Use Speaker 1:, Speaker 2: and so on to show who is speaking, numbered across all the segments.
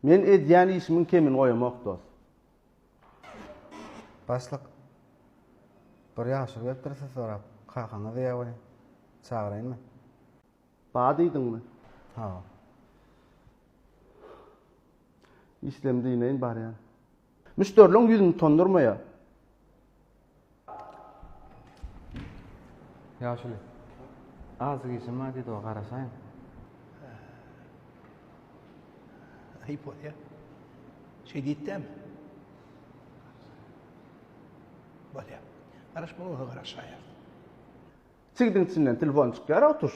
Speaker 1: Men edýän işimiň kemini goýamok dos. Başlyk bir ýagşylyk edipdir siz sorap. Kakaňyz ýa we çagyraýynmy? Ba diýdiňmi? Hawa. Işlem diýmeýin barýan. Müşderiliň ýüzüni utandyrmaýar. Ýaşuly. Azzyk işim bar diýdi-ow, garaşaýyn. Aýyp bolýar. Şeý diýip dämi? Bolýar. Garaşmaly bolsa garaşaýar. Çigdiň içinden telefon çykýar-ow tuş.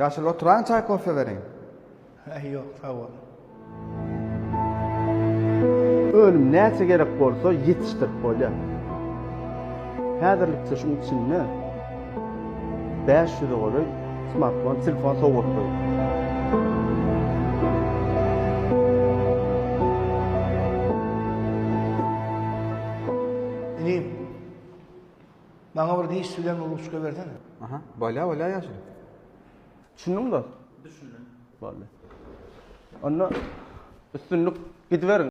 Speaker 1: Ýaşuly oturaň çaý kofe beriň. Häý ýok sag bol. Önüm näçe gerek bolsa ýetişdirip bolýar. Häzirlikçe şuň içinde bäş ýüze golaý smartfon, telefon sowgat goýup. Maňa bir diş sülen ruçka bersene. Aha, bolýa bolýa ýaşuly. Düşündiňmi dost? Düşündim. Boldy. Onda üstünlik gidiberiň.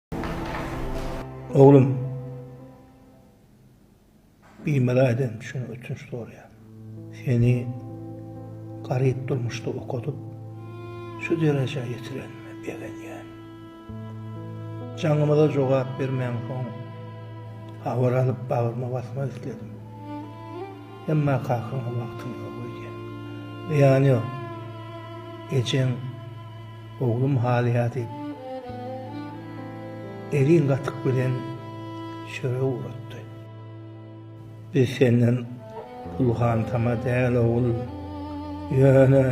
Speaker 1: Oglum. Biýmeli aýdan üçin ötünç sorýan. Seni garyp durmuşda okadyp, şu derejä ýetiren begenýän. Jaňymyza jogap bermän soň, habar alyp bagryma basmak isledim. Emma kakaňa wagtym ýok öýdýän. Zyýany ýok. Ejeň Oglum halyýa diýip, egin gatyk bilen çörek uratdy. Biz senden pulhantama däl, ogul. Ýöne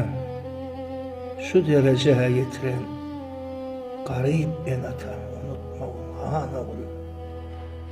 Speaker 1: şu derejä ýetiren garyp ene-atany unutmagyn, han ogul.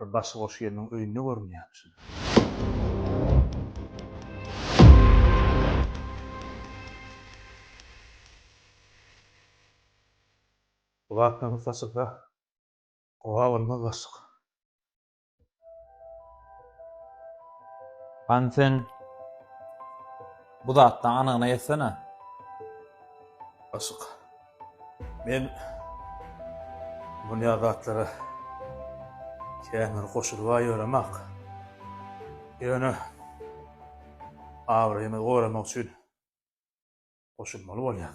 Speaker 1: Bir başy goş gelniň öýünde görünýär şuny. Gulaklaňyz saçylsa, howa bolmaz başlyk. Hany sen bu zatdan anygyna ýetsene. Başlyk. Men dünýä zatlara kän bir goşulba ýöremak. Ýöne abraýymy goramak üçin goşulmaly bolýar.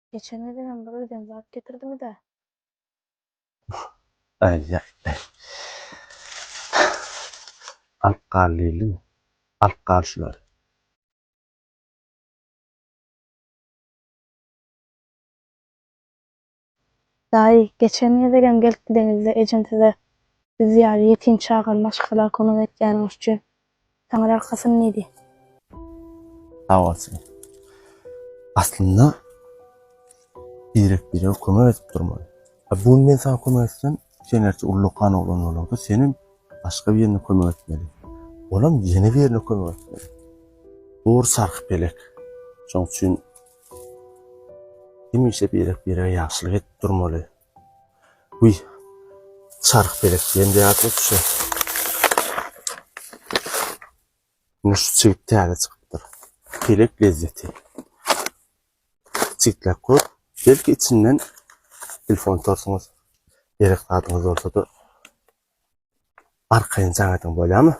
Speaker 1: Geçen gezegem bir özem zat getirdiňiz-ä. Aý-aý-aý. Alyp gal diýdim. Alyp gal şulary. Daýy, geçen gezegem gelip gideňizde ejem size biz ýaly ýetim çagany maşgala kömek etýäniňiz üçin Taňry arkasyn diýdi. Sag bolsun. Aslynda birek-birege kömek edip durmaly. Bu gün men saňa kömek etsem, sen ertir ullakan oglan bolarda senem başga birine kömek etmeli. Olam ýene birine kömek etmeli. Dogry sarhy pelek. Şoň üçin hemişe birek-birege ýagşylyk edip durmaly. Uý, çarh pelek diýen zat-la şu. Indi şu çigit täze çykypdyr. Pelek lezzeti. Çigitläp gör, belki içinden telefon torsuňyz, gerek zadyňyz bolsa-da arkaýyn jaň ediň, bolýarmy?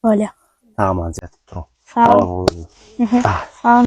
Speaker 1: Bolýar. Saman ýatyp turuň. Sag boluň. Sag boluň.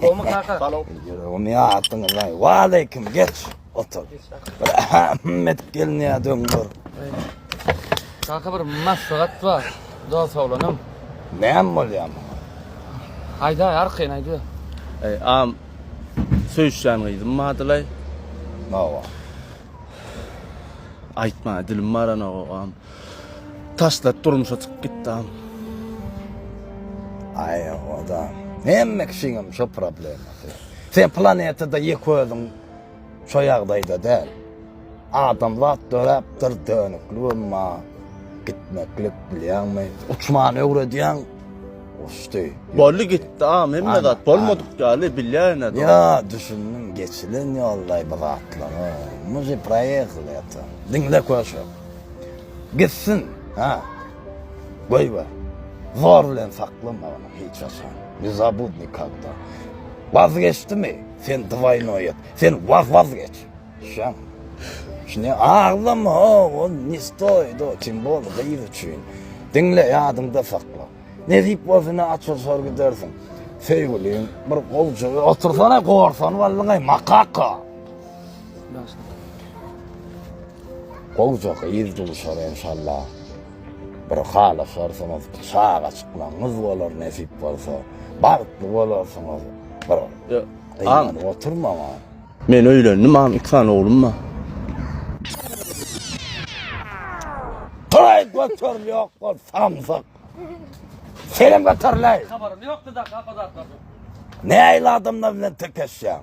Speaker 1: Gomy kaka. Salam. Gomy atdyň lan. Wa aleyküm geç. Otur. Ahmet gelni ya döňdür. Kaka bir maslahat bar. Dost oglanym. Näm bolýar? Aýda arkaýyn aýda. Ey am söýüşýän gyzym badylay. Nawa. Aýtma dilim baran ogam. Taşlap durmuşa çykyp gitdam. Aý oda hemme kişiňem şo problemasy. Sen planetada ýek özüň şo ýagdaýda däl. Adamzat döräpdir dönüklik emma gitmeklik bilýäňmi? Uçmany öwredýäň uçdy. Boldy gitdi am hemme zat bolmadyk ýaly bilýäýnä. Ýa düşündim geçilen ýoldaý bu zatlara. Muzy proýehl ýatan. Diňle köşek. Gitsin, hä? Goýber. Zor bilen saklama ony hiç haçan. Ne zabud nikogda. Wazgeçdimi? Sen dwaýnoý et. Sen waz-wazgeç. Şaň. Şine aglama, o ne stoýit, o tim bol gyz üçin. Diňle, ýadyňda sakla. Nesip bolsa ine açylşar gidersiň. Söýgüliň bir gowja. Otursana gorsan wallagaý, makaka. Gowja gyz duşar enşalla bir halyşarsyňyz çaga çykmagyňyz bolar nesip bolsa bagtly bolarsyňyz bir gynanyp oturmaň a. Men öýlendim agam iki sany oglum bar. Toý göteril ýok bol samsyk. Senem göteril eý. Habarym ýokdy daky ap o zatlardan. Nähili adamlar bilen tekeşýäň.